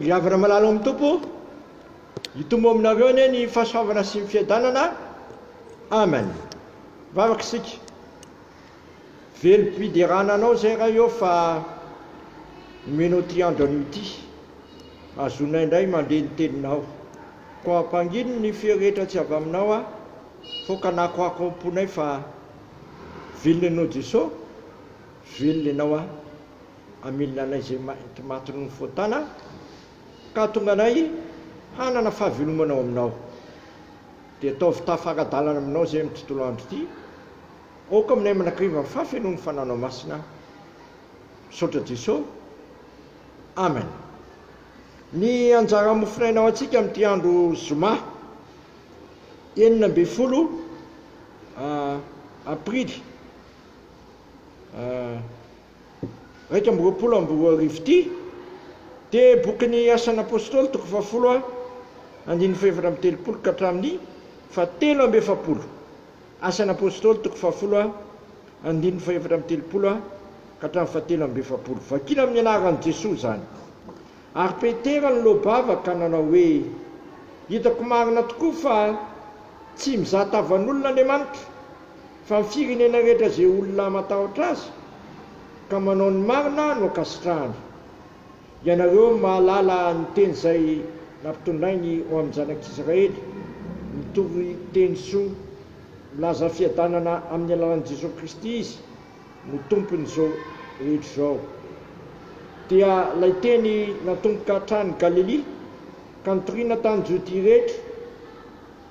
Ry havana malala ao amin'ny Tompo, hitombo aminareo anie ny fahasoavana sy ny fiadanana. Amen. Vavaka isika. Velom-piderana anao izay Ray ô fa nomenao ity andro anio ity. Azonay indray mandre ny teninao. Koa ampangino ny fery rehetra tsy avy aminao aho, fô kanakoako ao am-ponay fa velona ianao Jeso, velona ianao aho. hamilina anay izay mainty matin'ny nifontana ka hahatonga anay hanana fahavelomana ao Aminao. Dia ataovy tafaradalana Aminao izay amin'ny tontolo andro ity. Aoka aminay manakariva ny fahafenoan'ny Fanahinao Masina. Misaotra Jeso. Amen. Ny anjara mofon'aina ho antsika amin'ity andro Zoma enina ambin'ny folo Aprily iraika amby roapolo amby roa arivo ity dia bokin'ny Asan'ny Apôstôly, toko fahafolo A, andininy fahefatra amby telopolo ka hatramin'ny fahatelo amby efapolo. Asan'ny Apôstôly, toko fahafolo A, andininy fahefatra amby telopolo A ka hatramin'ny fahatelo amby efapolo. Vakina amin'ny anaran'i Jesoa izany. Ary Petera niloa-bava ka nanao hoe, Hitako marina tokoa fa tsy mizahatavan'olona Andriamanitra, Fa ny firenena rehetra izay olona matahotra azy ka manao ny marina no ankasitrahany. Ianareo no mahalala ny teny izay nampitondrainy ho amin'ny zanak'Israely, mitory teny soa, milaza fiadanana amin'ny alalan'i Jesoa Kristy izy no tompon'izao rehetra izao. Dia ilay teny natomboka hatrany Galilia ka nitoriana tany Jodia rehetra,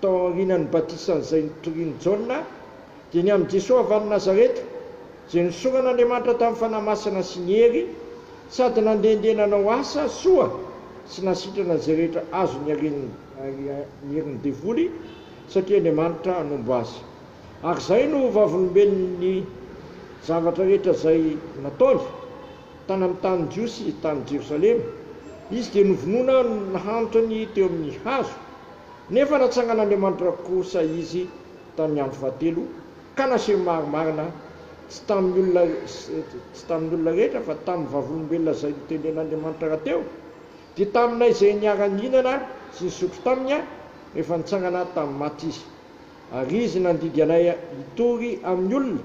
Tao aorianan'ny batisan'izay nitorian'i Jaona, dia ny amin'i Jesoa avy any Nazareta, izay nosoran'Andriamanitra tamin'ny Fanahy Masina sy ny hery, sady nandehandeha nanao asa soa sy nasitrana izay rehetra azony niaren'ny herin'ny devoly, satria Andriamanitra hanombo azy. Ary izay no ho vavolombelon'ny zavatra rehetra izay nataony, tany amin'ny tanin'ny Jiosy, tany Jerosalema. Izy dia novonoina nahantra ny teo amin'ny hazo. Nefa natsangan'Andriamanitra kosa izy tamin'ny andro fahatelo, ka naseho marimarina, tsy tamin'ny olona, tsy tamin'ny olona rehetra, fa tamin'ny vavolombelona izay notendren'Andriamanitra rahateo, dia taminay izay niara-nihinana sy nisotro taminy, rehefa nitsangana tamin'ny maty izy. Ary izy nandidy anay hitory amin'ny olona,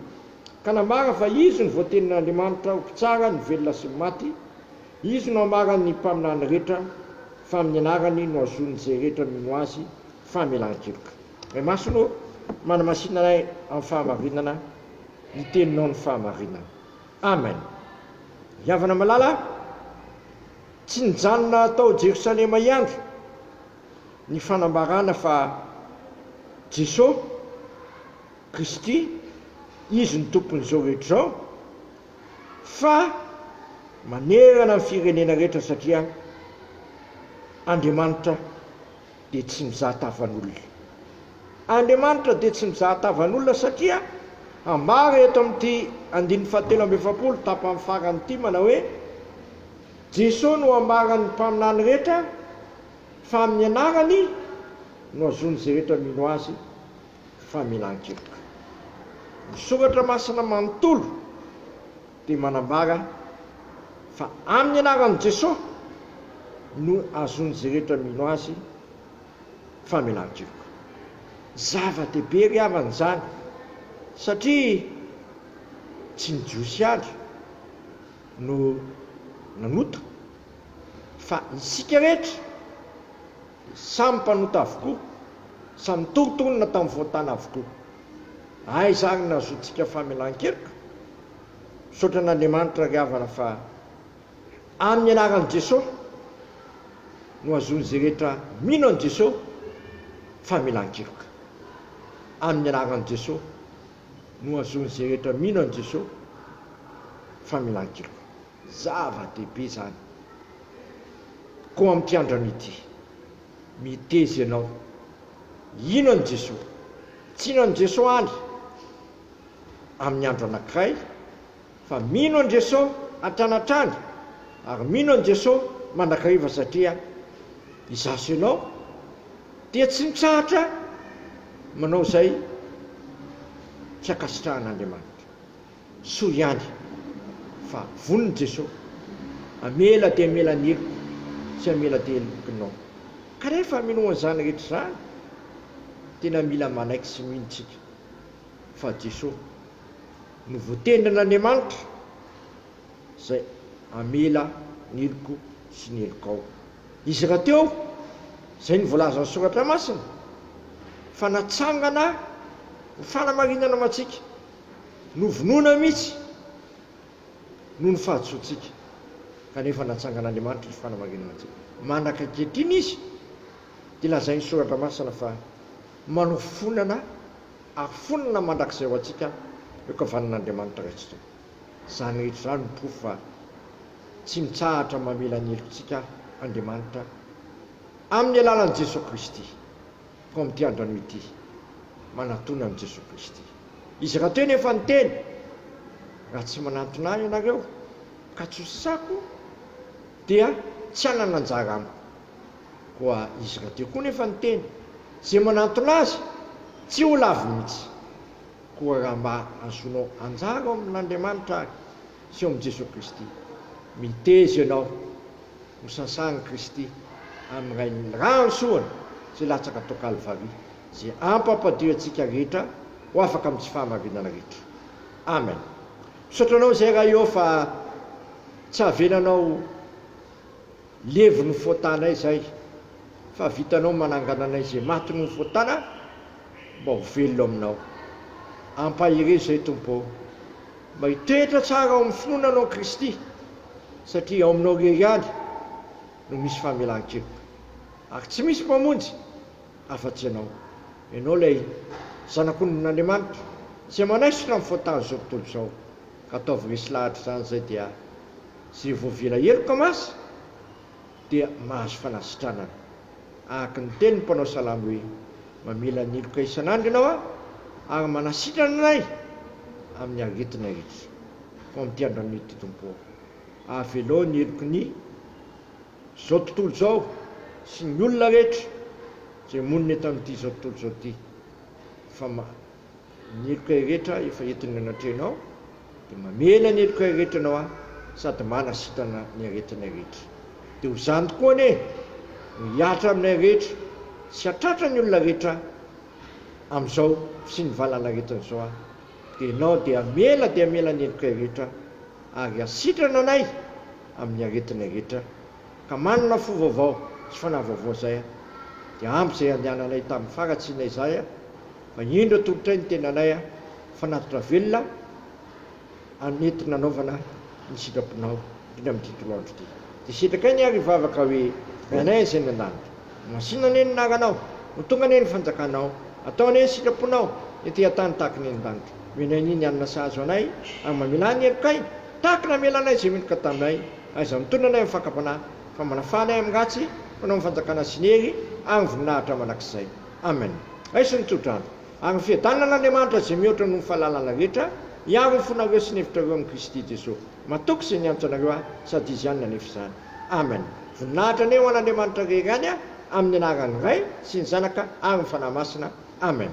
ka nambarany fa izy no voatenin'Andriamanitra ho mpitsara ny velona sy ny maty, Izy no amaran' ny mpaminany rehetra fa amin' ny anarany no azon' izay rehetra mino Azy famelan-keloka. Ray Masina ô, manamasina anay amin'ny fahamarinana ny Teninao ny fahamarinana. Amen. Ry havana malala a! Tsy nijanona tao Jerosalema hiandry ny fanambarana fa Jesoa Kristy Izy no Tompon'izao rehetra izao. fa manerana ny firenena rehetra satria Andriamanitra dia tsy mizaha tavan'olona. Andriamanitra dia tsy mizaha tavan'olona satria ambara eto amin'ity andininy fahatelo amby efapolo tapany farany ity manao hoe Jesoa no ambaran'ny mpaminany rehetra fa amin'ny anarany no azon'izay rehetra mino azy famelan-keloka. Ny soratra masina manontolo dia manambara fa amin'ny anaran'i Jesosy no azon'izay rehetra mino azy famelan-keloka. Zava-dehibe ry havana izany satria tsy ny Jiosy ihany no nanota fa isika rehetra. Samy mpanota avokoa, samy nitoritolona tamin'ny voatàna avokoa. Aiza ary ny nahazoantsika famelan-keloka? Misaotra an'Andriamanitra ry havana fa amin'ny anaran'i Jesosy no azon'izay rehetra mino an'i Jesosy famelan-keloka. Amin'ny anaran'i Jesosy no azon'izay rehetra mino an'i Jesosy famelan-keloka. Zava-dehibe izany. Koa amin'ity andronay ity, miteza ianao. Hino an'i Jesoa. Tsy hino an'i Jesoa any amin'ny andro anankiray, fa mino an'i Jesoa hatrany hatrany, ary mino an'i Jesoa mandrakariva satria izaho sy ianao dia tsy mitsahatra manao izay tsy ankasitrahan'Andriamanitra. Soa ihany fa vonona Jesoa hamela dia hamela ny heloko sy hamela dia helokinao. Ka rehefa minoa an'izany rehetra izany, tena mila manaiky sy mino tsika fa Jesoa no voatenin'Andriamanitra izay hamela ny heloko sy ny helokao. Izy rahateo izay no voalazan'ny Soratra Masina fa natsangana ho fanamarinana ho antsika. Novonoina mihitsy noho ny fahadisoantsika, kanefa natsangan'Andriamanitra ny fanamarinana antsika. Mandraka ankehitriny Izy dia lazain'ny Soratra Masina fa manofonana ary fonona mandrakizay ho antsika eo an-kavanin'Andriamanitra Ray sy Tompo. Izany rehetra izany no porofo fa tsy mitsahatra mamela ny helokantsika Andriamanitra amin'ny alalan'i Jesoa Kristy. Koa amin'ity andro anio ity, manatona an'i Jesoa Kristy. Izy raha teo nefa ny Teny, raha tsy manantona Ahy ianareo, ka tsy hosako, dia tsy hanana anjara Amiko. Koa Izy raha teo koa nefa ny Teny, izay manantona Azy, tsy ho lavo mihitsy. Koa raha mba azonao anjara ao amin'Andriamanitra ary sy ao amin'i Jesoa Kristy, miteza ianao. Ho sasan'i Kristy amin'ny Rain'ny Rahansoany izay latsaka tao Kalvary, izay hampampadio antsika rehetra ho afaka amin'ny tsy fahamarinana rehetra. Amen. Misaotra Anao izay Ray ô fa tsy havelanao levon'ny fotanay izay fa vitanao manangana anay izay maty noho ny fotana mba ho velona aminao. Ampaherezo izay Tompo ô. Mba hitoetra tsara ao amin'ny finoana Anao Kristy satria ao aminao irery ihany no misy famelan-keloka ary tsy misy mpamonjy afa-tsy ianao. Ianao ilay Zanak'ondrin'Andriamanitra izay manaisotra amin'ny faotan'izao tontolo izao. Ka ataovy resy lahatra izany izay dia izay voavela heloka masy. dia mahazo fanasitranana. Araka ny tenin'ny mpanao salamo hoe, Mamela niloka isan'andro Ianao aho, ary manasitrana anay amin'ny aretina rehetra. Fa amin'ity andron'ny anio ity, Tompo ô, avelao ny heloky ny izao tontolo izao sy ny olona rehetra izay monina eto amin'ity izao tontolo izao ity, fa ny heloka rehetra efa entin'ny anatrehinao, dia mamela ny heloka rehetra ianao aho sady manasitana ny aretinay rehetra. Dia ho zany tokoa anie no hihatra aminay rehetra sy hatratra ny olona rehetra amin'izao sy ny valan'aretina izao aho, dia ianao dia hamela dia hamela ny helokay rehetra ary hasitrana anay amin'ny aretinay rehetra Ka manana fo vaovao sy fanahy vaovao izay aho, dia ampy izay andehananay tamin'ny faharatsiana izay aho, fa indro atolotray ny tenanay aho fanatitra velona hanetiny hanaovana ny sitraponao, indrindra amin'ity tolao andro ity. Dia setrakay ny ary hivavaka hoe, Ranay izay any an-danitra, homasina anie ny anaranao, ho tonga anie ny fanjakanao, atao anie ny sitraponao ety an-tany tahaka ny any an-danitra. Omeo anay anie ny hanina sahaza anay, ary mamela ny helokay tahaka ny namelanay izay meloka taminay, Aiza mitonona anay amin'ny fakam-panahy, fa manafana ahy amin'ny ratsy, fanao ny fanjakana sy ny hery ary ny voninahitra mandrakizay. Amen. Hay sy ny tsodrano, ary ny fiadanan'Andriamanitra izay mihoatra noho ny fahalalana rehetra, hiaro ny fonareo sy ny hevitrareo amin'i Kristy Jesoa. Matoky izay niantso anareo ahy, sady Izy ihany nanefy izany. Amen. Voninahitra anie ho an'Andriamanitra rery any, amin'ny anaran'ny Ray, sy ny Zanaka, ary ny Fanahy Masina. Amen.